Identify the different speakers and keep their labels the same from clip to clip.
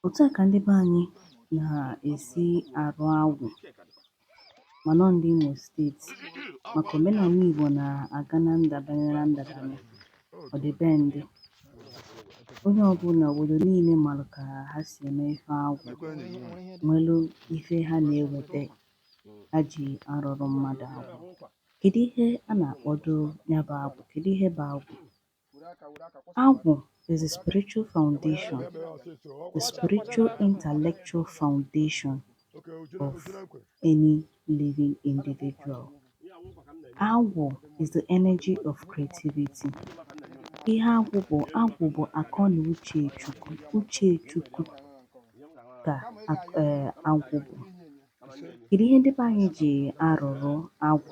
Speaker 1: otu a ka ndị be anyị na-esi arụ agwụ ma nọ ndị Imo steeti maka omenala Igbo na-aga na ndabanye na ndabanye ọdịbendị onye ọbụla obodo niile marụ ka ha si eme ife agwụ nwelu ife ha na-eweta ha ji arụrụ mmadụ agwụ kedu ihe a na-akpọdo ya bụ agwụ kedu ihe bụ agwụ Agwụ is a spiritual foundation, the spiritual intellectual foundation of any living individual. Agwụ is the energy of creativity. Ihe agwụ bụ agwụ bụ akọ na uche Chukwu ka eh, agwụ bụ. Kedu ihe ndị be anyị ji arụrụ agwụ?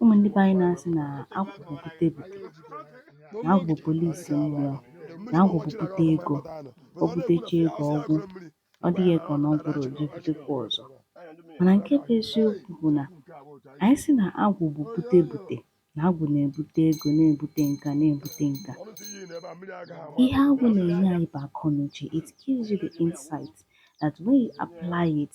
Speaker 1: Ụmụ ndị be anyị na-asị na agwụ bụ bute bute, na agwụ bụ polisi mmụọ, na agwụ bụ bute ego, o butecha ego ọ gwụ, ọ dị gị ka na ọ gwụrụ o je butekwa ọzọ. Mana nke bụ eziokwu bụ na anyị sị na agwụ bụ bute bute, na agwụ na-ebute ego, na-ebute nka, na-ebute nka. Ihe agwụ na-enye anyị bụ akọnuche. It gives you the insight that when you apply it,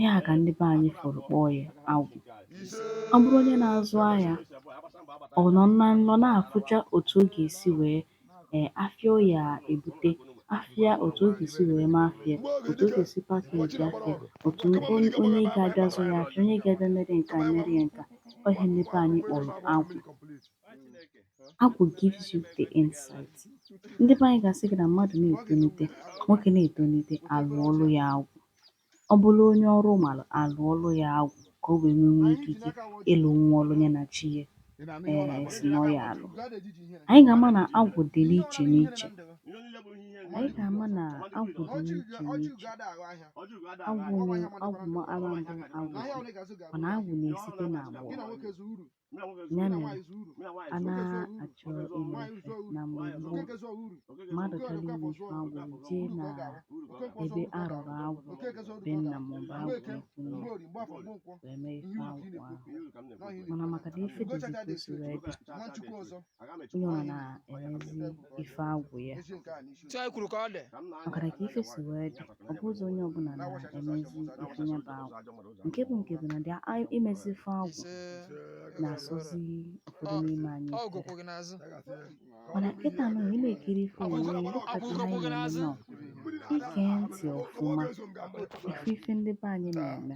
Speaker 1: ihe a ka ndị be anyị fụrụ kpọọ ya agwụ ọ bụrụ onye na-azụ ahịa ọ nọ na nlọ na-afụcha otu ọ ga-esi wee ee afịa ọ ya-ebute afịa otu ọ ga-esi wee mee afịa otu ọ ga-esi package afịa otu onye onye ga-abịa zụ ya afịa onye ga-abịa mere nke a mere ya nke a ọ ihe ndị be anyị kpọrọ agwụ agwụ gives you the insight ndị be anyị ga-asị gị na mmadụ na-etonite nwoke na-etonite a lụọlụ ya agwụ Ọ bụrụ onye ọrụ mara a lụọrụ ya agwụ ka o wee nwee nwee ikike ịlụ nwa ọrụ ya na chi ya ee si na ọ ya-alụ anyị ga-ama na agwụ dị n'iche n'iche anyị ga-ama na agwụ dị n'iche n'iche agwụ nwere agwụ ma ara mbụ agwụ mana agwụ na-esite n'agbụrụ ya mere a na-achọ ime ife na mgbe gboo mmadụ chọrọ ime ife agwụ jee na ebe a rụrụ agwụ be nna maọbụ agwụ ikwu nne wee mee ife agwụ ahụ mana maka na ife dịzi ka o si wee dị onye ọbụla na-emezi ife agwụ ya maka na ka ife si wee dị ọ bụghịzi onye ọbụla na-emezi ife ya bụ agwụ nke bụ nke bụ na dị imezi ife agwụ na-asọzi ụfọdụ n'ime anyị ike mana kịta nụ ị na-ekiri ife onyonyo ịlụkọta ihe anyị na-eme nọ i gee ntị ọfụma ife ife ndị be anyị na-eme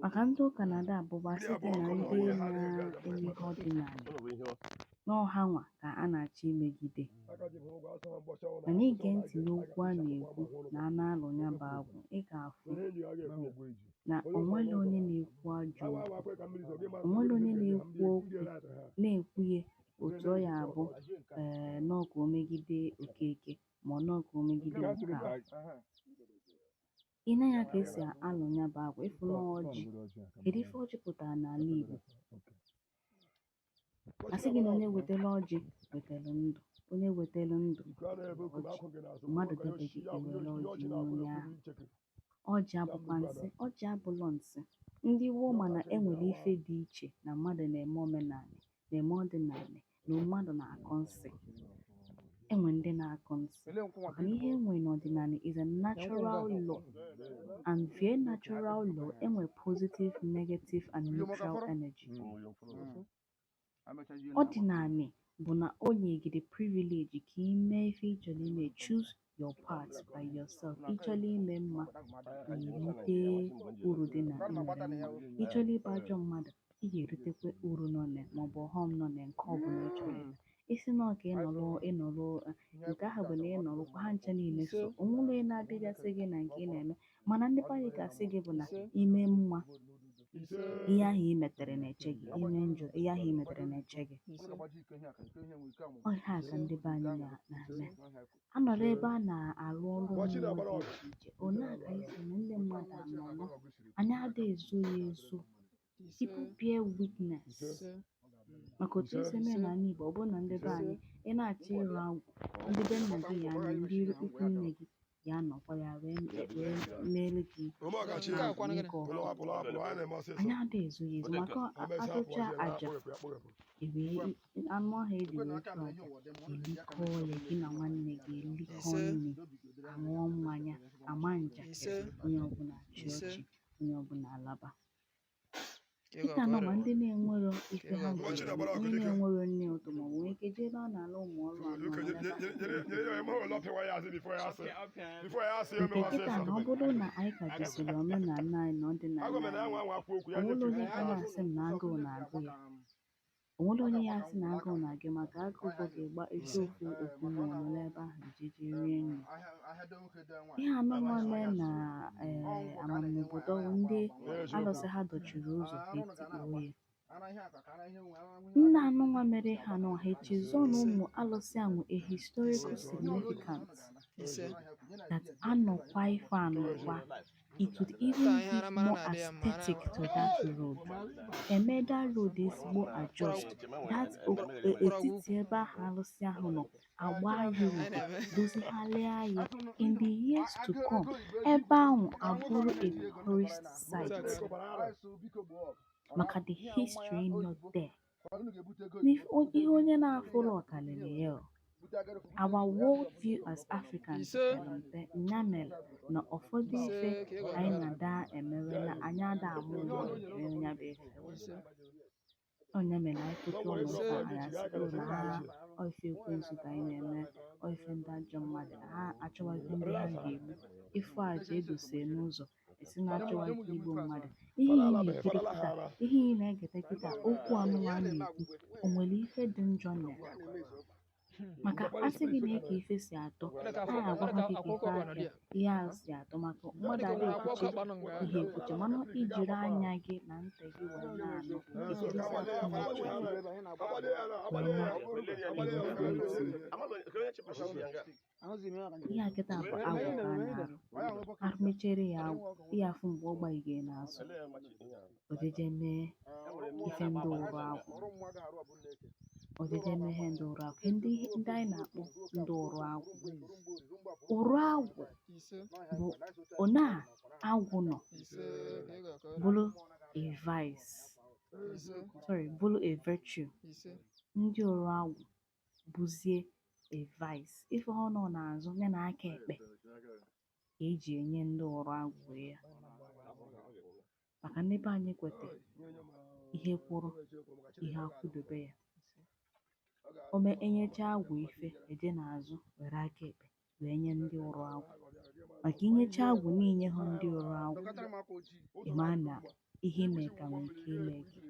Speaker 1: maka ndị ụka na-ada abụba site na ndị na-eme ihe ọdịnala na ọ ha nwa ka a na-achọ imegide mana i gee ntị n'okwu a na-ekwu na a na-alụ ya bụ agwụ ị ga-afụ na onwere onye na-ekwu ajọ okwu onwere onye na-ekwu okwu na-ekwu ihe otu ọ ya abụ ee na ọ ka o megide Okeke ma ọ na ọ ka o megide Okafor ị nee ya ka esi alụ ya bụ agwụ ị fụ na ọjị kedu ife ọjị pụtara n'ala Igbo a sị gị na onye wetara ọjị wetara ndụ onye wetara ndụ ọjị mmadụ debeghị ewere ọjị nye onye ahụ ọjị abụkwa nsị ọjị abụlọ nsị ndị woo mana enwere ife dị iche na mmadụ na-eme omenala na-eme ọdịnala na mmadụ na-akọ nsị enwe ndị na-akọ nsị mana ihe enwe n'ọdịnala is a natural law and via natural law enwe positive negative and neutral energy ọdịnala bụ na o nye gị the privilege ka ị mee ife ị chọrọ ime choose your path by yourself ịchọla ime mma irite uru dị na ime mma ịchọla ịbụ ajọ mmadụ ị ga-eritekwa uru nọ na maọbụ ọghọm nọ na nke ọbụla ị chọrọ ime ị sị na ọ ka ịnọrọ ịnọrọ eh, nke ahụ bụ na ịnọrọ kwa ha ncha niile so onwere onye na-abịagasị gị na nke ị na-eme mana ndị be anyị ga-asị gị bụ na ime mma ihe ahụ i metere na-eche gị ime njọ ihe ahụ i metere na-eche gị ọ ihe a ka ndị be anyị na- na-eme A nọrọ ebe a na-arụ ọrụ mmụọ dị iche iche, ọ na-akasị mma ndị mmadụ anọla, anyị ada ezo ya ezo. People bear witness. Maka otu esi eme ya n'ala Igbo, ọ bụrụ na ndị be anyị, ị na-achọ ịrụ agwụ, ndị be nna gị ya anọ, ndị ikwu nne gị ya anọkwa ya wee wee meere gị nke ọma. Anyị ada ezo ya ezo maka a- achụcha aja ewee anụ ahụ eji wee chụọ aja elikọọ ya gị na nwanne gị elikọọ nri aṅụọ mmanya ama njakịrị onye ọbụla achị ọchị onye ọbụla alaba dịka nọ ma ndị na-enwero ife ha nwere onye na-enwero nri ụtọ ma ọ bụ nwee ike jee ebe a na-alụ ụmụ ọrụ anụnwa kịta na ọ bụrụ na anyị ka jisiri omenala anyị na ọdịnala anyị onwere onye ga na-asị m na agụụ na-agụ ya O nwere onye ya asị na agụụ na-agụ ya maka agụụ gụba gị ị gbaa jee okwu okwu mmụọ nọ n'ebe ahụ ejeje rie nri. Ihe anụnwa mee na ee ama m obodo bụ ndị alụsị ha dọchiri ụzọ ka etikpoo ya. Ndị anụnwa mere ihe anụnwa ha echezọ na ụmụ alụsị a nwe a historical significance that anọkwa ife anọkwa. it would even give more aesthetic to that road. Eme that road ezigbo adjust. That o- e- etiti ebe ahụ alụsị ahụ nọ agba ya udo dozigharịa ya in the years to come ebe ahụ abụrụ a tourist site maka the history nọ there Ihe onye na-afụrọ ọ karịrị ya, our world view as Africans pere mpe nya mere na ụfọdụ ife anyị na-ada emewe na anyị ada amụ ụlọ emewe ya bụ ife ọ nya mere anyị pụta ụlọ ụka anyị asịrị ụlọ ha ọ ife ekwensu ka anyị na-eme ọ ife ndị ajọ mmadụ ha achọwazị ndị ha ga-egbu ị fụ aja edose n'ụzọ ị sị na achọwa nke igbu mmadụ ihe ị na-ekiri kịta ihe ị na-egete kịta okwu anụwa a na-ekwu o nwere ife dị njọ na ya maka asị gị na eke ife si atọ a na-agwakwa gị ka ife ahịa ihe a si atọ maka mmadụ ada ekwuchi ihe ekwuchi mana i jiri anya gị na ntị gị wee na-anụ etu o si atọ n'uche gị wee na-ekwusi ihe a kịta bụ agwụ ka a na-arụ arụ mechere ya agwụ ihe afụ mgbe ọ gbaje n'azụ ojeje mee ife ndị ụrụ agwụ ojeje mee ihe ndị ụrụ agwụ ndị ndị anyị na-akpọ ndị ụrụ agwụ ụrụ agwụ bụ ọ na agwụ nọ bụrụ a vice sorry bụrụ a virtue ndị ụrụ agwụ bụzie a vice ife ọ nọ n'azụ ya na aka ekpe ka eji enye ndị ụrụ agwụ ya maka ndị be anyị kwete ihe kwụrụ ihe akwụdobe ya ome enyecha agwụ ife eje n'azụ were aka ekpe wee nye ndị ụrụ agwụ maka i nyecha agwụ nni i nyehụ ndị ụrụ agwụ ị ma na ihe ime ka nwee ike ime gị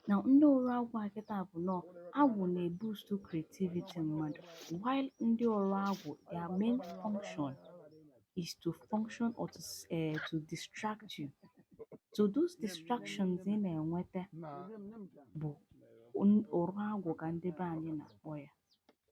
Speaker 1: na ndị ụrụ agwụ a kịta bụ na ọ agwụ na-eboost creativity mmadụ while ndị ụrụ agwụ their main function is to function or to, s- eh, to distract you so those distractions ị na-enweta bụ n- ụrụ agwụ ka ndị be anyị na-akpọ ya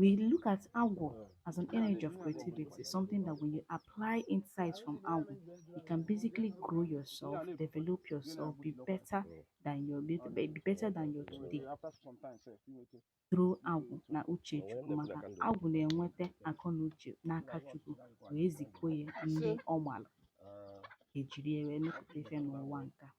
Speaker 1: We look at agwụ as an energy of creativity, something that when you apply insights from agwụ, you can basically grow yourself, develop yourself, be better than your be be better than your today through agwụ na uche Chukwu maka agwụ na-enweta akọ na uche n'aka Chukwu wee zipụ ya ndị ọ gbara ejiri ya wee mepụta ife n'ụwa nke a.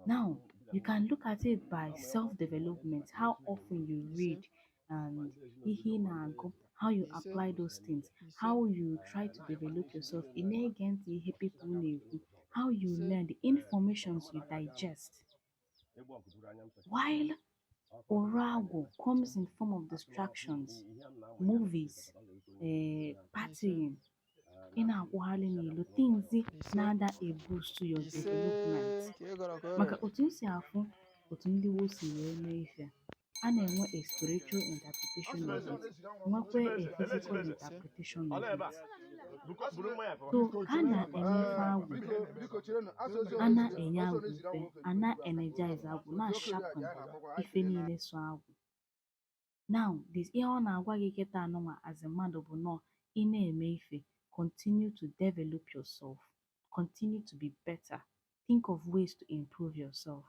Speaker 1: Now, you can look at it by self development, how often you read and ihe na-agụ, how you apply those things, how you try to develop yourself, ị na-ege ntị ihe people na-ekwu, how you learn, the informations you digest. While Orago comes in form of distractions, movies, uh, partying, ị na-akwụgharị n'ilo things na-ada eboost your development maka otu m si afụ otu ndị gboo si wee mee ife a na-enwe a spiritual interpretation of it nwekwa a physical interpretation of it so a na-eme ife agwụ a na-enye agwụ ife a na-energize agwụ na-asharpen ife niile so agwụ Now this ihe ọ na-agwa gị kịta anụnwa as a mmadụ bụ nọọ ị na-eme ife continue to develop yourself continue to be better think of ways to improve yourself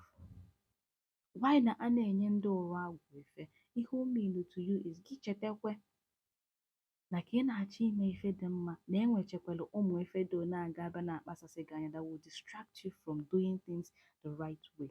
Speaker 1: why na a na-enye ndị ụrụ agwụ ife ihe o mean to you is gị chetakwe na ka ị na-achọ ime ife dị mma na e nwechekwara ụmụ ife ndị na-aga abịa na-akpasasị gị anya that will distract you from doing things the right way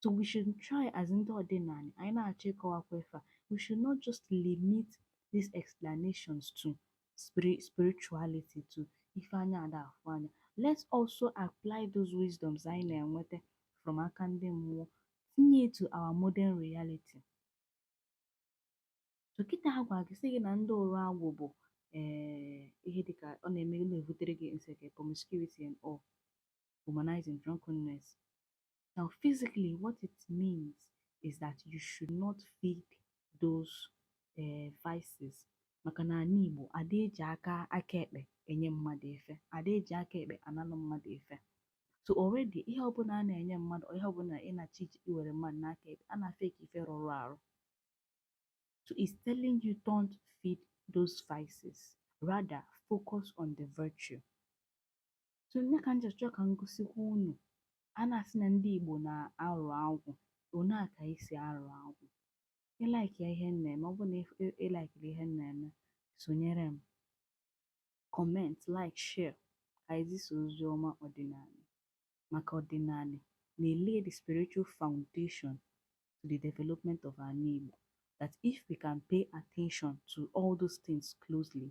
Speaker 1: So we should try as ndị ọdịnala anyị na-achọ ịkọwakwa ife a we should not just limit these explanations to spirit spirituality to ife anya ada afụ anya let's also apply those wisdoms anyị na-enweta from aka ndị mmụọ tinye to our modern reality so kịta a gwa gị sị gị na ndị ụrụ agwụ bụ ee eh, ihe dịka ọ na-eme na-ebutere gị nseke promiscuity and all womanizing drunkenness Now, physically, what it means is that you should not feed those uh, vices. maka na ana Igbo ada eji aka aka ekpe enye mmadụ ife ada eji aka ekpe analụ mmadụ ife so already ihe ọbụla a na-enye mmadụ ihe ọbụla ị na-achọ iji iwere mmadụ n'aka ekpe a na-afụ ya ka ife rụrụ arụ so it's telling you don't feed those vices rather focus on the virtue so nya ka m ji chọọ ka m gosikwa unu a na-asị na ndị Igbo na-arụ agwụ otu a ka e si arụ agwụ ị likeịa ihe m na-eme ọ bụrụ na ị likeịrị ihe m na-eme sonyere m comment like share ka e zisa ozi ọma ọdịnala maka ọdịnala na-elay the spiritual foundation to the development of ana Igbo that if we can pay attention to all those things closely